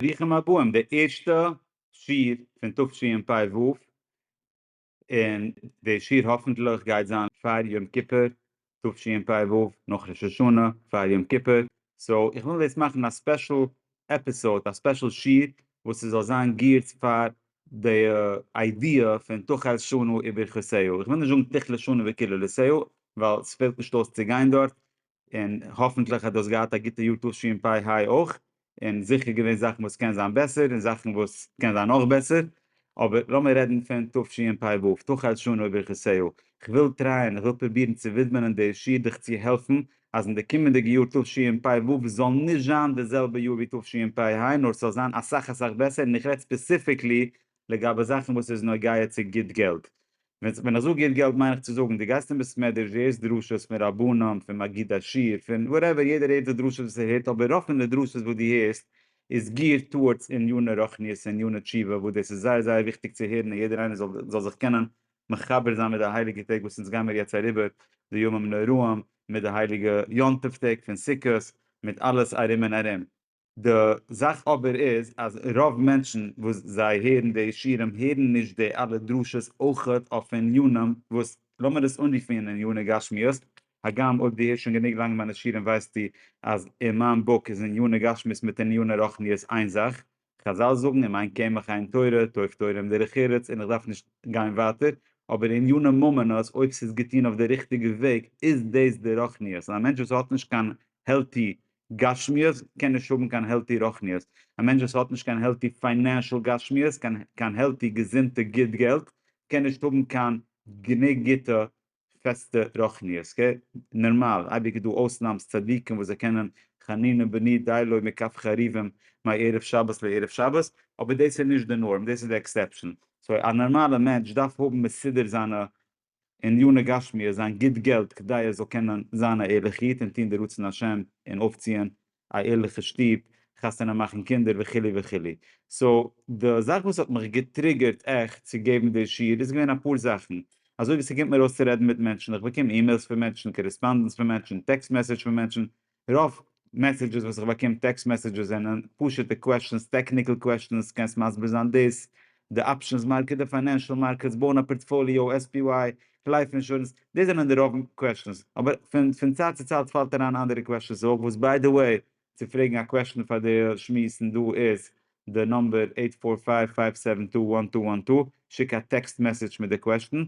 ברוכים הבאים די ערשטע שיעור פון תשפ ו, און די שיעור האפענטליך גייט זיין פאר יום כיפור תשפ ו, נאך ראש השנה פאר יום כיפור, סאו איך וויל דאס מאכן א ספעשל עפיסאוד, א ספעשל שיעור וואס ס'זאל זיין געירט פאר די איידיע פון תחל שנה וברכותיה, איך וויל נישט זאגן תכלה שנה וקללותיה ווייל ס'פעלט נישט אויס צו גיין דארט, און האפענטליך האט דאס געהאט א גוטע יאר תשפ ה אויך, און זיכער געווען זאכן וואס קען זיין בעסער און זאכן וואס קען זיין נאך בעסער, אבער לאמיר רעדן פון תשפ ו, תחל שנה וברכותיה, כ'וויל טרייען, איך וויל פרובירן צו ווידמענען די שיעור דיך צו העלפן אז אין די קומענדיגע יאר תשפ ו זאל נישט זיין די זעלבע יאר ווי תשפ ה נאר ס'זאל זיין אסאך אסאך בעסער און איך רעד ספעסיפיקלי לגבי זאכן וואס איז נוגע צו גוט געלט, ווען איך זאג גוט געלט מיין איך צו זאגן דו גייסט אין בית מדרש דו הערסט דרשות פון רבנים פון מגיד השיר פון וואטעווער יעדער הערט די דרשות וואס ער הערט אבער רוב פון די דרשות וואס דו הערסט איז גיערט טאוארדס עניני רוחניות און עניני תשובה וואס דאס איז זייער זייער וויכטיג צו הערן און יעדער איינער זאל זיך קענען מחבר זיין מיט די הייליגע טעג וואס אונז גיימיר יעצט אריבער די ימים נוראים מיט די הייליגע יום טוב טעג פון סוכות מיט אלעס ארום און ארום. די זאך אבער איז אז רוב מענטשן וואס זיי הערן די שירים הערן נישט די אלע דרשות אויכעט אויף עניינים וואס לאמיר עס אנרופן ענייני גשמיות, הגם אויב די הערסט שוין גענוג לאנג מיינע שירים ווייסטו אז אין מיין בוק איז ענייני גשמיות מיט ענייני רוחניות איין זאך, חזל זאגן אם אין קמח אין תורה, טוב תורה עם דרך ארץ און איך דארף נישט גיין ווייטער, אבער ענייני ממונות אויב ס'איז געטון אויף די ריכטיגע וועג איז דאס די רוחניות און א מענטש וואס האט נישט קיין העלטי גשמיות קען נישט האבן קיין העלטי רוחניות, א מענטש וואס האט נישט קיין העלטי פיינענשעל גשמיות, קיין העלטי געזונטע גוט געלט, קען נישט האבן קיין גענוג גוטע פעסטע רוחניות, אקעי? נערמאל, אייביג איז דא אויסנאמס צדיקים וואס זיי קענען חנינא בני דיילוי מקף חריבים מערב שבת לערב שבת, אבער דאס איז נישט די נארם, דאס איז די עקסעפשאן, סאו א נערמאלע מענטש דארף האבן מסודר זיינע עניני גשמיות זיין גוט געלט כדי ער זאל קענען זיין א ערליכע איד און טון די רצון השם און אויפציען א ערליכע שטוב, חתונה מאכן קינדער וכו' וכו'. סאו די זאך וואס האט מיך געטריגערט עכט צו געבן די שיעור איז געווען אפאר זאכן, אזוי ווי ס'קומט מיר אויס צו רעדן מיט מענטשן, איך באקום אימעילס פון מענטשן, קארעספאנדענס פון מענטשן, טעקסט מעסעדזש פון מענטשן, רוב מעסעדזשעס וואס איך באקום טעקסט מעסעדזשעס זענען פשוטע קוועסטשענס, טעקניקל קוועסטשענס, קענסט מסביר זיין דאס, די אפשענס מארקעט, די פיינענשעל מארקעטס, בויען א פארטפאליאו, עס פי וואי, לייף אינשורענס, דאס זענען די רוב קוועסטשענס, אבער פון פון צייט צו צייט פאלט אריין אנדערע קוועסטשענס אויך, וואס ביי די וועי, צו פרעגן א קוועסטשען פאר די שמועסן דא איז די נומבער, עיט פאר פייוו פייוו סעווען טו וואן טו וואן טו, שיק א טעקסט מעסעדזש מיט די קוועסטשען,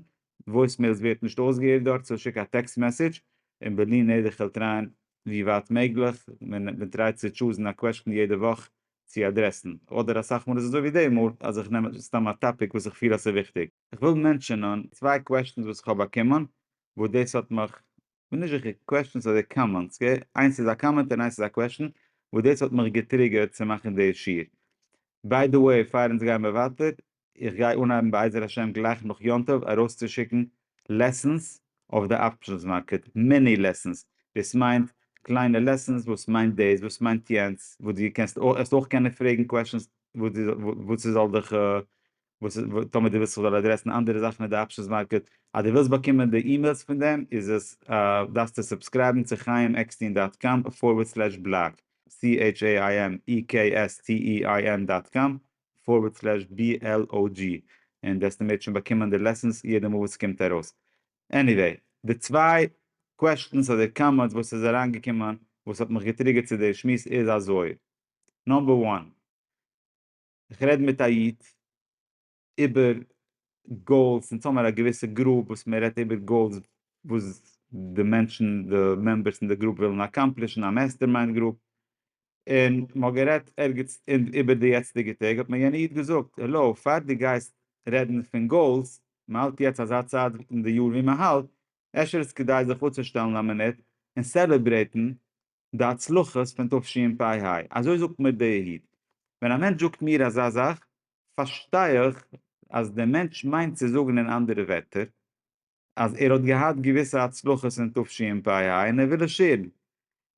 וואויס מעילס ווערט נישט אויסגעהערט דארט סאו שיק א טעקסט מעסעדזש און בלי נדר כ'וועל טרייען ווי ווייט מעגליך מען טרייט צו טשוזן א קוועשטן יעדע וואך צו אדרעסן אדער אסאך מאל איז אזוי ווי די מאל אז איך נעם סתם א טאפיק וואס איך פיל אז ס'וויכטיג. כ'וויל מענטשענען צוויי קוועשטענס וואס כ'האב באקומען וואס דאס האט מיך כ'בין נישט זיכער, קוועשטענס אדער קאמענטס, גע? איינס איז א קאמענט און איינס איז א קוועשטען, וואס דאס האט מיך געטריגערט צו מאכן די שיעור. ביי די וועי, פאר אונז גייען ווייטער, איך גיי אנהייבן בעזר השם גלייך נאך יום טוב ארויסצושיקן לעסענס אויף די אפשענס מארקעט, מיני לעסענס, דאס מיינט קליינע לעסענס, וואס מיינט דאס, וואס מיינט יענץ, וואס דו קענסט, האסט אויך קענען פרעגן קוועשטענס וואס ס'זאל דיך וואס איז טאמער די ווילסט איך זאל אדרעסן אנדערע זאכן אין די אפשענס מארקעט אז די ווילסט באקומען די אימעילס פון דעם איז עס דארפסטו סובסקרייבן צו חיים עקסטין דאט קאם פארווערד סלעש בלאג CHAIMEKSTEIN דאט קאם פארווערד סלעש BLOG און וועסטו מער שוין באקומען די לעסענס יעדע מאל וואס סקומט ארויס עניוועי די צוויי קוועשטענס אדער קאמענטס וואס איז אריין געקומען וואס האט מיך געטריגערט צו די שמועס איז אזוי נאמבער וואן. איך רעד מיט א איד איבער גאולס און ס'האמער א געוויסע גרופ וואס מען רעדט איבער גאולס וואס די מענטשן די מעמבערס אין די גרופ ווילן אקאמפלישן א מעסטערמיינד גרופ און מען האט גערעדט ערגעץ איבער די יעצטיגע טעג האט מיר יענע איד געזאגט העלא פאר די גייסט רעדן פון גאולס מען האלט יעצט אזא צייט אין די יאר ווי מען האלט אפשר איז כדאי זיך אפצושטעלן א מינוט און סעלעברעיטן די הצלחות פון תשפ ה, אזוי זאגט מיר די איד. ווען א מענטש זאגט מיר אזא זאך, פארשטיי איך אז דער מענטש מיינט צו זאגן אין אנדערע ווערטער, אז ער האט געהאט געוויסע הצלחות אין תשפ ה און ער וויל עס שעירן,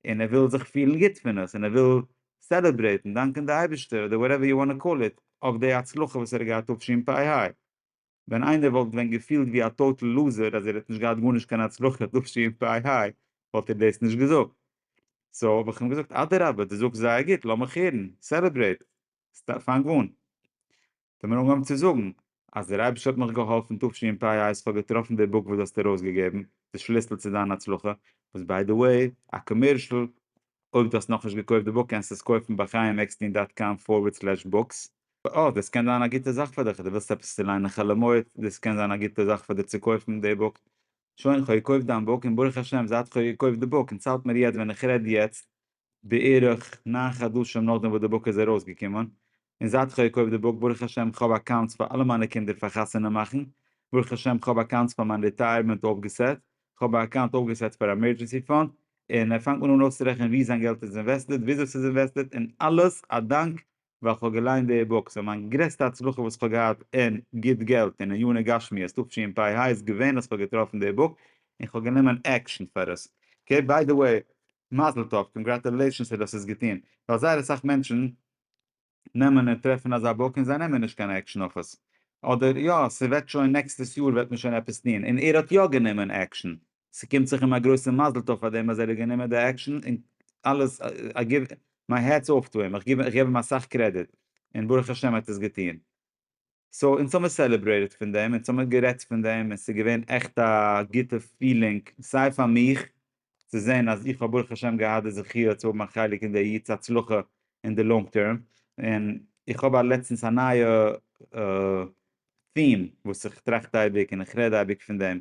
און ער וויל זיך פילן גוט פון עס, און ער וויל סעלעברעיטן, דאנקען די אייבערשטער, אדער וואטעווער יו וואנט טו קאל איט, אויף די הצלחה וואס ער האט געהאט תשפ ה. ווען איינער וואלט ווען געפילט ווי א טאטעל לוזער אז ער האט נישט געהאט גארנישט קיין הצלחה דאשי און פיי היי וואלט ער דאס נישט געזאגט. סאו האב איך אים געזאגט אדרבה דו זאגסט זייער גוט לאמיך הערן, סעלעברעיט, פאנג אן. האט ער מיר אנגעהויבן צו זאגן אז דער אייבישטער האט מיך געהאלפן תשי און פיי היי אז כ'האב געטראפן די בוק וואס דו האסט ארויסגעגעבן, די שליסל צו דיין הצלחה, וואס ביי די וועי א קאמערשל אויב דו האסט נאכנישט געקויפט די בוק קענסטו עס קויפן ביי חיים עקסטין דאט קאם פארווערד סלעש בוקס. אה, דאס קען זיין א גוטע זאך פאר דיך, דו ווילסט עפעס צו ליינען חלומות, דאס קען זיין א גוטע זאך פאר דיר צו קויפן די בוק. שוין, כ'האב געקויפט דיין בוק, און ברוך השם זייט כ'האב געקויפט די בוק, און צאלט מיר יעצט ווען איך רעד יעצט, בערך נײַן חדשים נאכדעם וואס די בוק איז ארויסגעקומען, און זייט כ'האב געקויפט די בוק ברוך השם כ'האב אקאונטס פאר אלע מיינע קינדער פאר חתונה מאכן, ברוך השם כ'האב אקאונטס פאר מיין ריטייערמענט אויפגעסעט, כ'האב א אקאונט אויפגעסעט פאר א עמערדזשענסי פאנד, און ער פאנגט מיר אן אויסצורעכענען וואו זיין געלט איז אינוועסטעד, וויאזוי ס'איז אינוועסטעד, און אלעס א דאנק ווייל כ'האב געליינט די בוק, סאו מיין גרעסטע הצלחה וואס כ'האב געהאט אין גוט געלט און עניני גשמיות תשי ם פי ה איז געווען אז כ'האב געטראפן די בוק און כ'האב גענומען עקשן פאר עס, אקעי ביי די וועי מזל טוב קאנגראטולעישאנס אז דאס איז געטון, ווייל זייער אסאך מענטשן נעמען און טרעפן אזא באק און זיי נעמען נישט קיין עקשן אויף עס, אדער יא ס'וועט שוין נעקסטעס יאר וועט מען שוין עפעס טון, און ער האט יא גענומען עקשן, ס'קומט זיך אים א גרויסע מזל טוב פאר דעם אז ער האט גענומען די עקשן, און אלעס איי גיוו מיי העטס אף טו הים, איך געב אים אסאך קרעדיט, און ברוך השם ער האט עס געטון. סאו אונז האמיר סעלעברעיטעד פון דעם, אונז האמיר גערעדט פון דעם, און ס'איז געווען עכט א גוטע פילינג, סיי פאר מיך צו זען אז איך האב ברוך השם געהאט די זכיה צו האבן א חלק אין די יו ט'ס הצלחה אין די לאנג טערם, און איך האב א לעצטנס א נייע theme וואס איך טראכט אייביג און איך רעד אייביג פון דעם,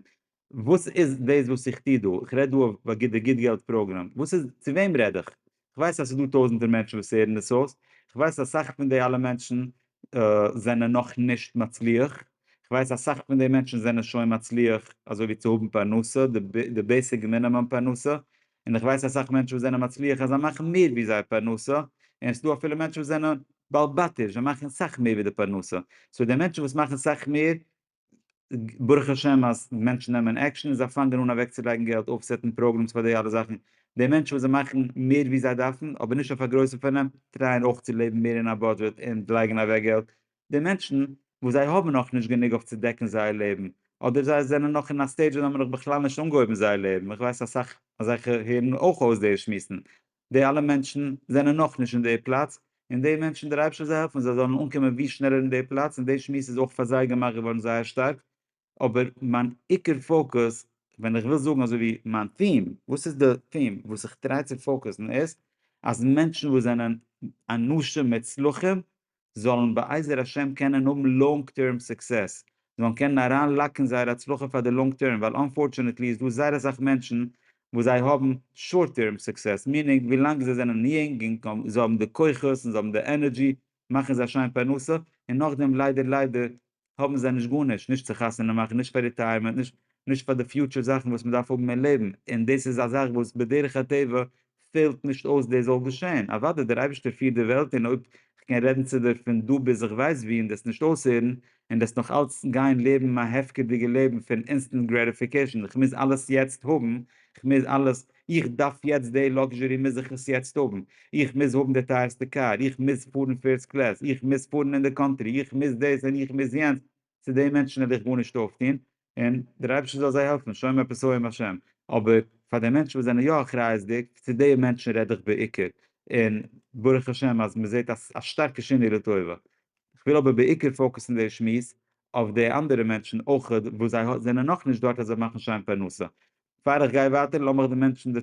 וואס איז דאס וואס איך טוה דא? איך רעד דא אויף די גוט געלט פראגראם. וואס איז, צו וועם רעד איך? איך ווייס אז ס'איז דא טויזענטער מענטשן וואס הערן דאס אויס, איך ווייס אז סאך פון די אלע מענטשן זענען נאך נישט מצליח, איך ווייס אז סאך פון די מענטשן זענען שוין מצליח אזוי ווי צו האבן פרנסה, די בעיסיק מינימום פרנסה, און איך ווייס אז סאך מענטשן וואס זענען מצליח אז זיי מאכן מער ווי זייער פרנסה, און ס'דא אפילו מענטשן וואס זענען בעל בתיש, זיי מאכן סאך מער ווי די פרנסה. סאו די מענטשן וואס מאכן סאך מער ברוך השם אז מענטשן נעמען עקשאן און זיי פאנגען אן אוועקצולייגן געלט אויפסעטן פראגרעמס פאר די אלע זאכן, די מענטשן וואס זיי מאכן מער ווי זיי דארפן אבער נישט אויף א גרויסע פארנעם טרייען אויך צו לעבן מער אין א בודזשעט און לייגן אוועק געלט, די מענטשן וואס זיי האבן נאך נישט גענוג אויף צו דעקן זייער לעבן אדער זיי זענען נאך אין א סטעידזש וואס זיי האבן נאך בכלל נישט אנגעהויבן זייער לעבן, איך ווייס אסאך אזעלכע הערן אויך אויס די שמועסן, די אלע מענטשן זענען נאכנישט אין די פלאץ, און די מענטשן דער אייבערשטער זאל העלפן זיי זאלן אנקומען ווי שנעלער אין די פלאץ, און די שמועס איז אויך פאר זיי געמאכט געווארן זייער שטארק, אבער מיין עיקר פאוקוס, ווען איך וויל זאגן אזוי ווי מיין theme, וואס איז די theme וואס איך טריי צו פאוקוסן איז, אז מענטשן וואס זענען אנשים מוצלחים זאלן בעזר השם קענען האבן לאנג טערם סוקסעס, זיי זאלן קענען אריין לאקן זייער הצלחה פאר די לאנג טערם, ווייל אנפארטשענעטלי איז דא זייער אסאך מענטשן וואס זיי האבן שארט טערם סוקסעס, מינינג ווילאנג זיי זענען יונג און זיי האבן די כוחות און זיי האבן די ענערדזשי מאכן זיי א שיין פרנסה, און נאכדעם ליידער ליידער האבן זיי נישט גארנישט, נישט צו חתונה מאכן, נישט פאר ריטייערמענט, נישט נישט פאר די פיוטשער זאכן וואס מען דארף האבן אין לעבן, און דאס איז א זאך וואס בדרך הטבע פעלט נישט אויס דאס זאל געשען, אוודאי דער אייבערשטער פירט די וועלט און אויב כ'קען רעדן צו דיר פון דא ביז איך ווייס ווי און דו עסט נישט אויסהערן און דאס נאך אלץ גיין לעבן א הפקר'דיגע לעבן פון אינסטענט גרעטיפיקעשאן, כ'מוז אלעס יעצט האבן, כ'מוז אלעס, איך דארף יעצט די לאקזשערי מוז איך עס יעצט האבן, איך מוז האבן די טייערסטע קאר, איך מוז פארן פירסט קלעס, איך מוז פארן אין די קאנטרי, איך מוז דאס און איך מוז יענץ, צו די מענטשן וועל איך גארנישט אויפטון, און דער אייבערשטער זאל זיי העלפן, שומר את פסעיהם השם, אבער פאר די מענטשן וואס זענען יא אחריות'דיג, צו די מענטשן רעד איך בעיקר, און ברוך השם אז מען זעט א שטארקע שינוי לטובה. כ'וויל אבער בעיקר פאוקוסן די שמועס אויף די אנדערע מענטשן אויך וואס זיי זענען נאכנישט דארט אז זיי מאכן שיין פרנסה, פאר איך גיי ווייטער לאמיך דיר מענטשען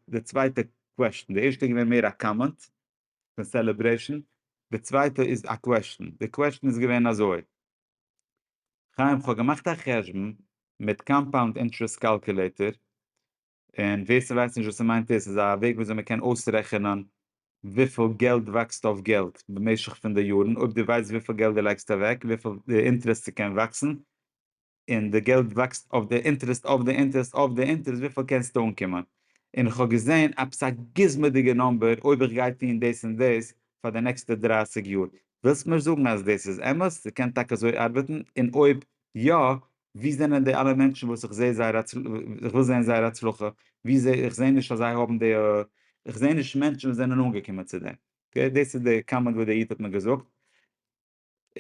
די צווייטע קוועשטען, די ערשטע איז געווען מער א קאמענט פון סעלעברעישען, די צווייטע איז א קוועשטען, די קוועשטען איז געווען אזוי, חיים כ'האב געמאכט א חשבון מיט קאמפאונד אינטרעסט קאלקולעיטער, און ווער ס'ווייסט נישט וואס ס'מיינט איז ס'איז א וועג וויאזוי מען קען אויסרעכענען וויפיל געלט וואקסט אויף געלט במשך פון די יארן, אויב דו ווייסט וויפיל געלט דו לייגסט אוועק וויפיל די אינטרעסט ס'קען וואקסן, און די געלט וואקסט אויף די אינטערעסט אויף די אינטערעסט אויף די אינטערעסט וויפיל קענסטו אנקומען? און איך האב געזען עפעס א גוזמא'דיגע נאמבער אויב איך גיי טון דאס און דאס פאר די נעקסטע דרײַסיק יאר, ווילסט מיר זאגן אז דאס איז אמת? ס'קען טאקע אזוי ארבעטן? און אויב יא, ווי זענען די אלע מענטשן וואס איך זעה זייער איך וויל זען זייער הצלחה, ווי זע איך זעה נישט אז זיי האבן די איך זעה נישט מענטשן וואס זענען אנגעקומען צו דעם, אקעי דאס איז די קאמענט וואס די איד האט מיר געזאגט.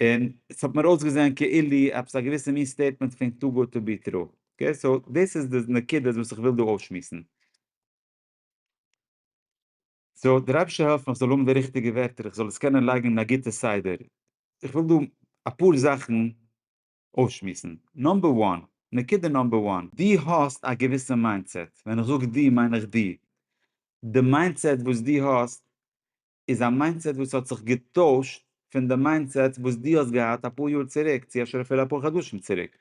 און עס האט מיר אויסגעזען כאילו עפעס א געוויסע מין סטעיטמענט פון טו גוד טו בי טרו. אקעי סאו דאס איז די נקודות וואס איך וויל דא אויסשמועסן. סאו דער אייבערשטער העלף מיך זאל האבן די ריכטיגע ווערטער איך זאל עס קענען לייגן אין א גוטע סדר. איך וויל דא אפאר זאכן אויסשמועסן. נאמבער וואן, נקודה נאמבער וואן. דו האסט א געוויסע מיינדסעט, ווען איך זאג דו מיין איך דו. די מיינדסעט וואס דו האסט איז א מיינדסעט וואס האט זיך געטוישט פון די מיינדסעט וואס דו האסט געהאט אפאר יאר צוריק צו אפשר אפילו אפאר חדשים צוריק.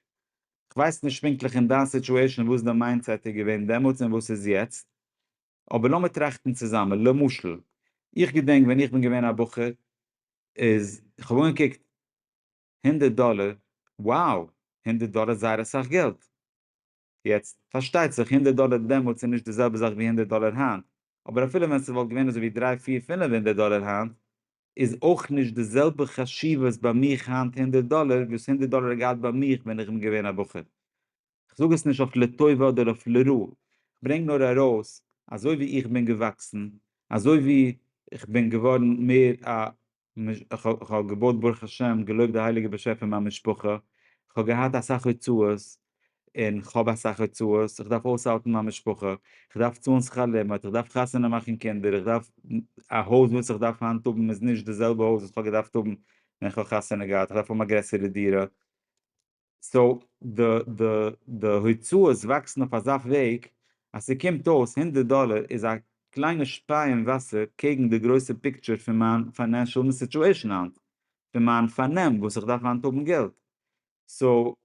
כ'ווייס נישט פונקטליך אין דיין סיטואשען וואס די מיינדסעט איז געווען דעמאלטס און וואס איז יעצט, אבער לאמיר טראכטן צוזאמען, למשל, איך געדענק ווען איך בין געווען א בחור איז כ'האב אנגעקוקט הונדערט דאלער, wow! הונדערט דאלער איז זייער אסאך געלט. יעצט, פארשטייט זיך, הונדערט דאלער דעמאלטס איז נישט די זעלבע זאך ווי הונדערט דאלער היינט, אבער אפילו ווען ס'וואלט געווען אזויווי דריי פיר פינף הונדערט דאלער היינט, איז אויך נישט די זעלבע חשיבות ביי מיך היינט הונדערט דאלער וואס הונדערט דאלער האט געהאט ביי מיך ווען איך בין געווען א בחור. כ'זאג עס נישט אויף לטובה אדער אויף לרע, כ'ברענג נאר ארויס אזויווי איך בין געוואקסן, אזויווי כ'בין געווארן מער א איך האב געבויט ברוך השם, געלויבט די הייליגע באשעפער מיין משפחה, איך האב געהאט אסאך הוצאות, און כ'האב אסאך הוצאות, איך דארף אויסהאלטן מיין משפחה, איך דארף צאלן שכר לימוד, איך דארף חתונה מאכן קינדער, איך דארף א הויז וואס איך דארף היינט האבן איז נישט די זעלבע הויז וואס כ'האב געדארפט האבן ווען כ'האב חתונה געהאט, איך דארף האבן א גרעסערע דירה, סאו די הוצאות וואקסן אויף אזא וועג אז ס'קומט אויס הונדערט דאלער איז א קליינע שפיי אין וואסער קעגן די גרויסע פיקטשער פון מיין פיינענשעל סיטועשן היינט, פון מיין פארנעם וואס איך דארף היינט האבן געלט. סאו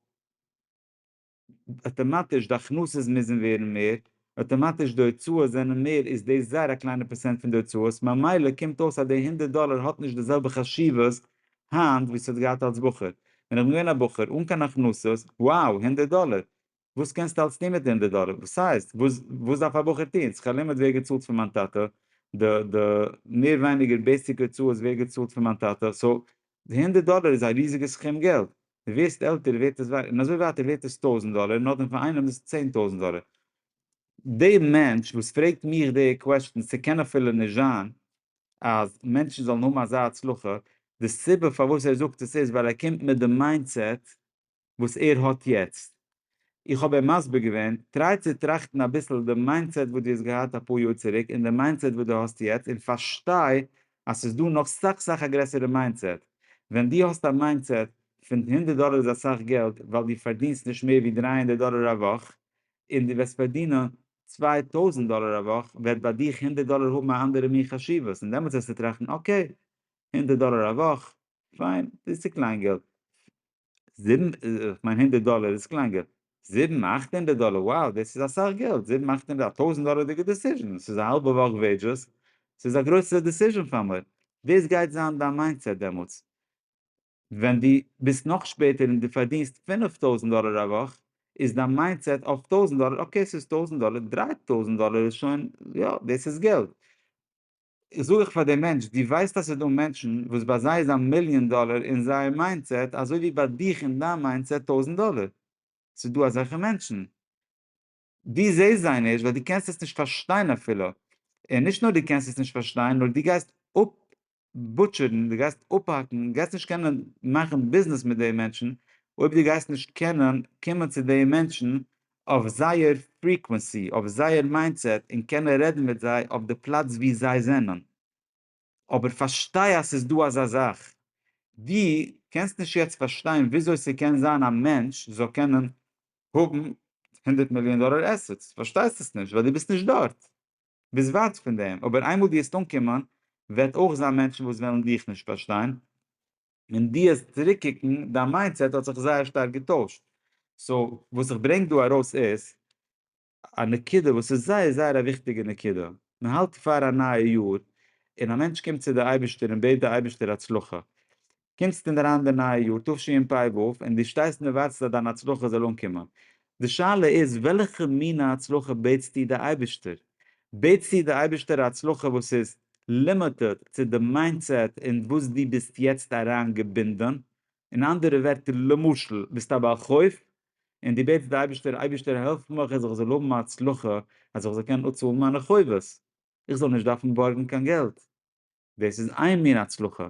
אטאמאטיש די הכנסות מוזן ווערן מער אוטומאטיש די הוצאות זענען מער איז דאס זייער א קליינע פערסענט פון די הוצאות ממילא קומט אויס אז די הונדערט דאלער האט נישט די זעלבע חשיבות היינט ווי ס'האט געהאט אלס בחור ווען איך בין געווען א בחור אן קיין הכנסות wow הונדערט דאלער וואס קענסטו אלס טון מיט די הונדערט דאלער וואס הייסט וואס וואס דארף א בחור טון זיך א לימוד ווערט געצאלט פון מיין טאטע די די מער ווייניגער בעיסיק הוצאות ווערט געצאלט פון מיין טאטע סאו די הונדערט דאלער איז א ריזיגע סכום געלט די ווערסט עלטער ווערט עס ווערט און אזוי ווייטער ווערט עס טויזענט דאלער און נאכדעם פאר איינעם איז עס צען טויזענט דאלער. די מענטש וואס פרעגט מיך די קוועשטענס ס'קען אפילו נישט זיין אז מענטשן זאלן האבן אזא הצלחה, די סיבה פארוואס ער זאגט עס איז ווייל ער קומט מיט די מיינדסעט וואס ער האט יעצט, איך האב אים מסביר געווען, טריי צו טראכטן אביסל די מיינדסעט וואס דו האסט געהאט אפאר יאר צוריק און די מיינדסעט וואס דו האסט יעצט און פארשטיי אז ס'איז דא נאך סאך סאך א גרעסערע מיינדסעט. ווען דו האסט א מיינדסעט פון הונדערט דאלער איז אסאך געלט ווייל דו פארדינסט נישט מער ווי דרײַ הונדערט דאלער א וואך און דו וועסט פארדינען צוויי טויזנט דאלער א וואך וועט ביי דיך הונדערט דאלער האבן א אנדערע מין חשיבות און דעמאלטס וועסטו טראכטן אקעי הונדערט דאלער א וואך פיין דאס איז צו קליין געלט זיבן, כ'מיין הונדערט דאלער איז קלאנגער, זיבן אכט הונדערט דאלער, wow דאס איז אסאך געלט, זיבן אכט הונדערט, א טויזנט דאלערדיגע דעסיזשען, ס'איז א האלבע וואך וועידזשעס, ס'איז א גרויסע דעסיזשען פאר מיר, דאס גייט זיין דיין מיינדסעט דעמאלטס, ווען דו ביסט נאך שפעטער און דו פארדינסט פינף טויזנט דאלער א וואך, איז דיין מיינדסעט אויף טויזנט דאלער, אקעי ס'איז טויזנט דאלער, דריי טויזנט דאלער איז שוין, יא דאס איז געלט. איך זאג איך פאר דעם מענטש, דו ווייסט אז ס'איז דא מענטשן וואס ביי זיי איז א מיליאן דאלער אין זייער מיינדסעט אזוי ווי ביי דיך אין דיין מיינדסעט טויזנט דאלער? ס'איז דא אזעלכע מענטשן. דו זעסט זיי נישט ווייל דו קענסט עס נישט פארשטיין אפילו. און נישט נאר דו קענסט עס נישט פארשטיין, נאר דו גייסט אפבוטשערן, דו גייסט אפהאקן, דו גייסט נישט קענען מאכן ביזנעס מיט די מענטשן אויב דו גייסט נישט קענען קומען צו די מענטשן אויף זייער פריקווענסי, אויף זייער מיינדסעט און קענען רעדן מיט זיי אויף די פלאץ ווי זיי זענען. אבער פארשטיי אז ס'איז דא אזא זאך. דו קענסט נישט יעצט פארשטיין וויאזוי ס'קען זיין א מענטש זאל קענען האבן הונדערט מיליאן דאלער עסעטס, פארשטייסט עס נישט ווייל דו ביסט נישט דארט, ביסט ווייט פון דעם, אבער איינמאל דו וועסט אנקומען וועט אויך זיין מענטשן וואס וועלן דיך נישט פארשטיין, און די עס צוריקקוקן, דיין מיינדסעט האט זיך זייער שטארק געטוישט. סאו וואס איך ברענג דא ארויס איז א נקודה וואס איז זייער זייער א וויכטיגע נקודה, מען האלט פאר א נייע יאר און א מענטש קומט צו די אייבערשטער און בעט די אייבערשטער הצלחה, קומסט אינדערהיינט די נייע יאר תשפ ו און די שטייסט און ווארטסט אז דיין הצלחה זאל אנקומען, די שאלה איז וועלכע מינע הצלחה בעטסטו די אייבערשטער? בעטסטו די אייבערשטער א הצלחה וואס איז לימיטעד צו די מיינדסעט אין וואס דו ביסט יעצט אריין געבינדען? אין אנדערע ווערטער למשל ביסט א בעל חוב און דו בעטסט די אייבערשטער אייבערשטער העלף מיך אז איך זאל האבן א הצלחה אז איך זאל קענען אפצאלן מיינע חובות, איך זאל נישט דארפן בארגן קיין געלט, דאס איז איין מין הצלחה.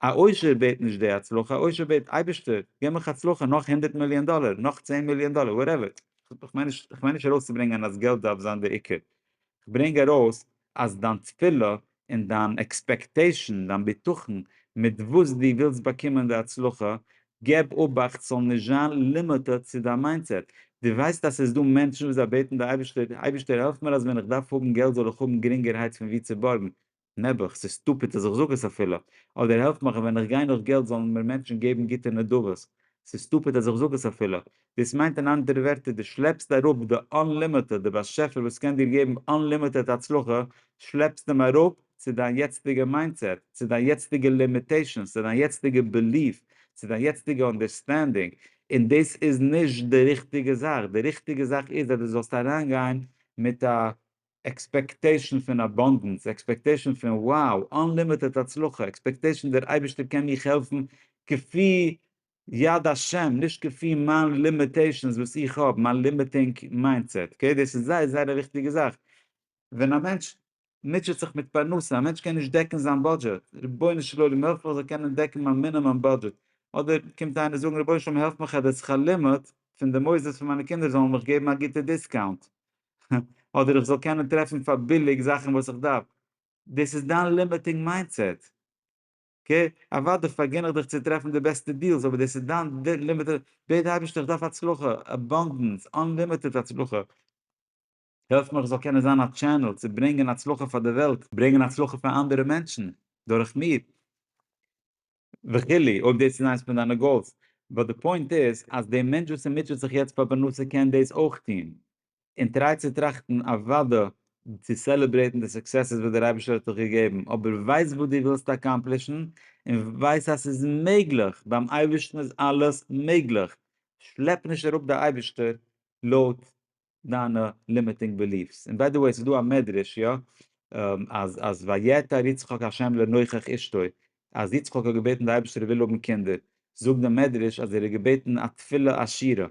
א עושר בעט נישט די הצלחה, א עושר בעט אייבערשטער געב מיך הצלחה נאך הונדערט מיליאן דאלער, נאך צען מיליאן דאלער, וואטעווער. איך מיין נישט, איך מיין נישט ארויסצוברענגען אז געלט דארף זיין דער עיקר. איך ברענג ארויס אז דיין תפילה און דיין עקספעקטעישאן, דיין בטחון מיט וואס דו ווילסט באקומען די הצלחה, געב אובאכט ס'זאל נישט זיין לימיטעד צו דיין מיינדסעט. דו ווייסט אז ס'איז דא מענטשן וואס זיי בעטן די אייבערשטער, אייבערשטער העלף מיר אז ווען איך דארף האבן געלט זאל איך האבן גרינגערהייט פון וואו צו בארגן. נעבעך, ס'איז סטופיד אז איך זאג עס אפילו. אדער העלף מיך אז ווען איך גיי נאך געלט זאלן מיר מענטשן געבן גוטע נדבות. ס'איז סטופיד אז איך זאג עס אפילו. דאס מיינט אין אנדערע ווערטער דו שלעפסט אראפ די אנלימיטעד, דער באשעפער וואס קען דיר געבן אנלימיטעד הצלחה, שלעפסט אים אראפ צו דיין יעצטיגע מיינדסעט, צו דיין יעצטיגע לימיטעישאנס, צו דיין יעצטיגע בעליף, צו דיין יעצטיגע אנדערסטענדינג, און דאס איז נישט די ריכטיגע זאך, די ריכטיגע זאך איז אז דו זאלסט אריינגיין מיט א עקספעקטעישאן פון אבאנדענס, עקספעקטעישאן פון wow, אנלימיטעד הצלחה, עקספעקטעישאן דער אייבערשטער קען מיך העלפן כפי יד השם, נישט כפי מיין לימיטעישאנס וואס איך האב, מיין לימיטינג מיינדסעט, אקעי, דאס איז זייער זייער א וויכטיגע זאך, ווען א מענטש מוטשעט זיך מיט פרנסה, א מענטש קען נישט דעקן זיין בודזשעט, רבונו של עולם העלף איך זאל קענען דעקן מיין מינימום בודזשעט, אדער קומט איינער זאגן רבונו של עולם העלף מיך אז די שכר לימוד פון די מוסדות פון מיינע קינדער זאלן מיך געבן א גוטע דיסקאונט, אדער איך זאל קענען טרעפן פאר ביליג זאכן וואס איך דארף, דאס איז דיין לימיטינג מיינדסעט. אקעי, אוודאי פארגין איך דיך צו טרעפן די בעסטע דיעלס אבער דאס איז דיין לימיטעד, בעט די אייבערשטער איך דארף הצלחה, אבאנדענס, אנלימיטעד הצלחה, העלף מיך איך זאל קענען זיין א טשענעל צו ברענגען הצלחה פאר די וועלט, ברענגען הצלחה פאר אנדערע מענטשן דורך מיר, וכו', אויב דאס איז איינס פון דיינע גאולס, באט די פוינט איז אז די מענטש וואס איז מוטשעט זיך יעצט פאר פרנסה קען דאס אויך טון, און טריי צו טראכטן אוודא צו סעלעברעיטן די סוקסעסעס וואס דער אייבערשטער האט דיך געגעבן, אבער ווייס וואס דו ווילסט אקאמפלישן, און ווייס אז ס'איז מעגליך, ביים אייבערשטן איז אלעס מעגליך, שלעפ נישט אראפ די אייבערשטער לויט דיינע לימיטינג בעליף'ס, און ביי די וועי ס'איז דא א מדרש יא אז אז ויעתר יצחק ה' לנוכח אשתו אז יצחק האט געבעטן די אייבערשטער ער וויל האבן קינדער, זאגט די מדרש אז ער האט געבעטן א תפילה עשירה,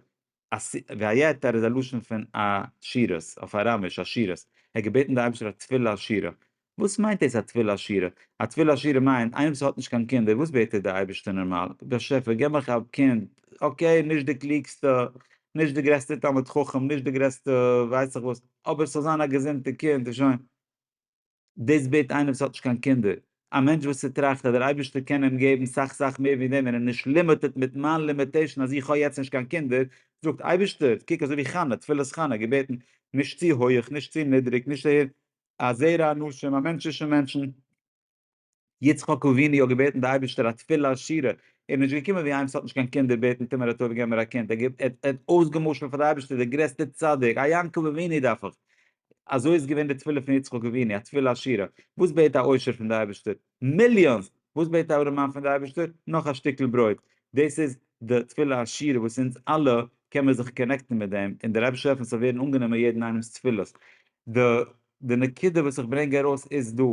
א ס ג א יתד איז א לשון פון א שירות, אויף אראמיש, א שירות, ער האט געבעטן די אייבערשטער א תפילה עשירה, וואס מיינט דאס א תפילה עשירה? א תפילה עשירה מיינט איינער וואס האט נישט קיין קינדער וואס בעט ער די אייבערשטער נארמאל, באשעפער געב מיך א קינד, אקעי נישט די קלוגסטע, נישט די גרעסטע תלמיד חכם, נישט די גרעסטע ווייס איך וואס, אבער ס'זאל זיין א געזונטע קינד און שוין. דאס בעט איינער וואס האט נישט קיין קינדער, א מענטש וואס ס'טראכט אז דער אייבערשטער קען אים געבן סאך סאך מער ווי דעם און איז נישט לימיטעד מיט מיין לימיטעישאן אז איך האב יעצט נישט קיין קינדער, זאגט אייבערשטער, קוק אזוי ווי חנה, תפלת חנה, געבעטן, נישט צו הויעך, נישט צו נידריג, נישט הער, א זרע אנשים, א מענטש'ישע מענטשן. יצחק אבינו האט געבעטן די אייבערשטער א תפילה שירה, ער איז נישט געקומען ווי איינס האט נישט קיין קינדער בעטן טומער הטוב געב מיר א קינד, ער האט אויסגעמשל'ט פאר די אייבערשטער דער גרעסטע צדיק, א יעקב אבינו דארף איך, אזוי איז געווען די תפילה פון יצחק אבינו, א תפילה שירה, וואס בעט א עושר פון די אייבערשטער? מיליאנס! וואס בעט א ארעמאן פון די אייבערשטער? נאך א שטיקל ברויט! דאס איז די תפילה השירה וואס אונז אלע קען מיר זיך קאנעקטן מיט דעם, און דער אייבערשטער העלפן ס'זאל ווערן אנגענומען יעדן איינעמ'ס תפילות, די. די נקודה וואס איך ברענג ארויס איז דא,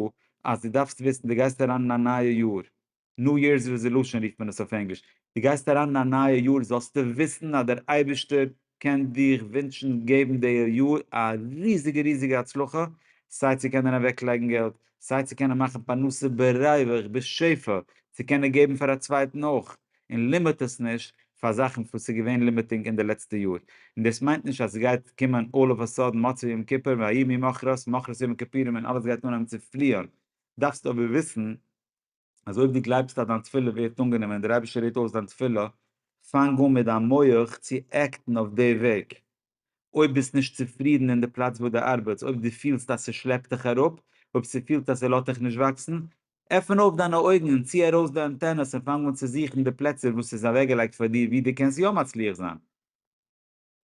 אז דו דארפסט וויסן, דו גייסט אריין אין א נייע יאר, ניו יערס רעזעלושען רופט מען עס אויף ענגליש, דו גייסט אריין אין א נייע יאר זאלסטו וויסן אז דער אייבערשטער קען דיך ווינטשן געבן די יאר א ריזיגע ריזיגע הצלחה, סיי צו קענען אוועק לייגן געלט, סיי צו קענען מאכן פרנסה בריווח בשפע, צו קענען געבן פאר א צווייטן אויך, און לימיט עס נישט פאר זאכן וואס איז געווען לימיטינג אין די לעצטע יאר, און דאס מיינט נישט אז עס גייט קומען אלל אוו א סאדען מוצאי יום כיפור ויהי ממחרת מחרת יום הכפירים און אלעס גייט אנהייבן צו פליען, דארפסט אבער וויסן אז אויב דו גלייבסט אז דיין תפילה ווערט אנגענומען און דער אייבערשטער הערט אויס דיין תפילה, פאנג אן מיט דיין מח צו עקטן אויף די וועג. אויב ביסט נישט צופרידן אין די פלאץ וואו דו ארבעטס, אויב דו פילסט אז ס'שלעפט דיך אראפ, אויב ס'פילט אז ס'לאט דיך נישט וואקסן, עפן אויף דיינע אויגן און צי ארויס די אנטענעס און פאנג אן צו זוכן די פלעצער וואס ס'איז אוועקגעלייגט פאר דיר וואו דו קענסט יא מצליח זיין.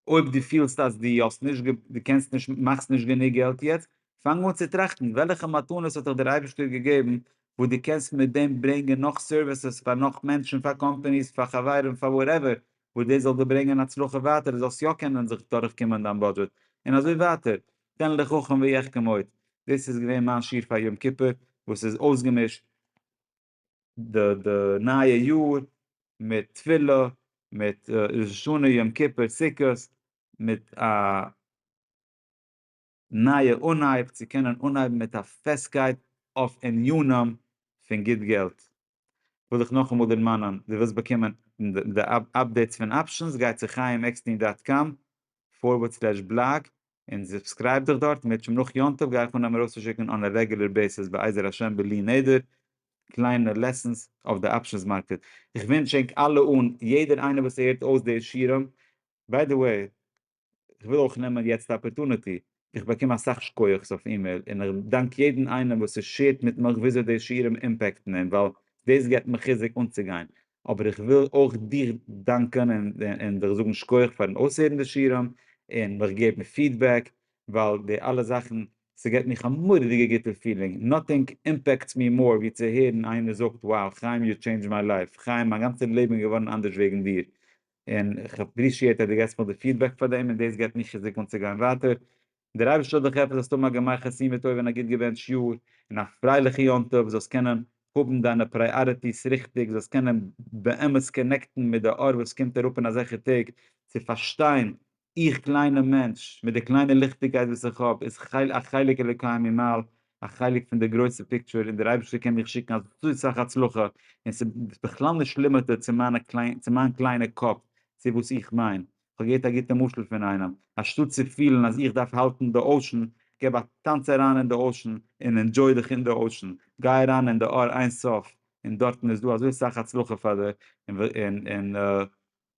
אויב דו פילסט אז דו האסט נישט גע, דו קענסט נישט, מאכסט נישט גענוג געלט יעצט, פאנג אן צו טראכטן וועלכע מתנות האט דיך דער אייבערשטער געגעבן וואס דו קענסט מיט דעם ברענגען נאך סערוויסעס פאר נאך מענטשן, פאר קאמפאניס, פאר חברים, פאר וואטעווער, וואס דאס זאל דיר ברענגען הצלחה ווייטער דו זאלסט יא קענען זיך דורך קומען דיין בודזשעט און אזוי ווייטער, תן לחכם ויחכם עוד, דאס איז געווען מיין שיעור פאר יום כיפור וואס איז אויסגעמישט די די נייע יאר מיט תפילה מיט ראש השנה יום כיפור סוכות מיט א. נייע אנהייב צו קענען אנהייבן מיט א פעסטקייט אויף ענינים פון גוט געלט. וויל איך נאכאמאל דערמאנען, דו ווילסט באקומען די אפדעיטס פון אפשענס, גיי צו חיים עקסטין דאט קאם פארווערד סלעש בלאג און סובסקרייב דיך דארט, מיט שם נאך יום טוב גיי איך אנהייבן ארויסצושיקן אן א רעגולער בעיסיס בעזר השם בלי נדר קליינע לעסענס אויף די אפשענס מארקעט. איך ווינטש ענק אלע אן יעדער איינער וואס הערט אויס די שירעם, ביי די וועי, איך וויל אויך נעמען יעצט די אפערטונעטי, איך באקום אסאך שקויעך'ס אויף אימעיל, און איך דאנק יעדן איינעם וואס איז שעירט מיט מיך וויאזוי די שיעורים אימפעקטן אים, ווייל דאס געבט מיר חיזוק אנצוגיין, אבער איך וויל אויך דיך דאנקען און דיך זאגן שקויעך פארן אויסהערן די שיעורים און מיך געבן פידבעק, ווייל די אלע זאכן, ס'געבט מיך א מורא'דיגע גוטע פילינג, נאטינג אימפעקטס מי מאר ווי צו הערן איינער זאגט, wow חיים יו טשעינדזשד מיי לייף, חיים מיין גאנצע לעבן איז געווארן אנדערש וועגן דיר, און איך עפרישיעט אז דו געבסט מיר די פידבעק פאר דעם און דאס געבט מיר חיזוק אנצוגיין ווייטער. דער אייבערשטער זאל דיך העלפן זאלסט האבן א גמר חתימה טובה און א גוט געבענטש יאר, און א פרייליכע יום טוב, זאלסט קענען האבן דיינע פרייאריטיס ריכטיג, זאלסט קענען באמת קאנעקטן מיט די אור וואס קומט אראפ אין אזעלכע טעג, צו פארשטיין איך קליינע מענטש, מיט די קליינע ליכטיגקייט וואס איך האב, איז כ'ל א חלק אלוקי ממעל, א חלק פון די גרויסע פיקטשור, און דער אייבערשטער קען מיך שיקן אזוי סאך הצלחה, און ס'איז בכלל נישט לימיטעד צו מיינע קליינע, צו מיין קליינע קאפ, צו וואס איך מיין. כ'האב געהערט א גוטע משל פון איינעם, אנשטאט צו פילן אז איך דארף האלטן די אושען, גיב א טאנץ אריין אין די אושען, און ענדזשוי דיך אין די אושען, גיי אריין אין די אר אין סוף, און דארטן איז דא אזוי סאך הצלחה פאר דיר, און און און.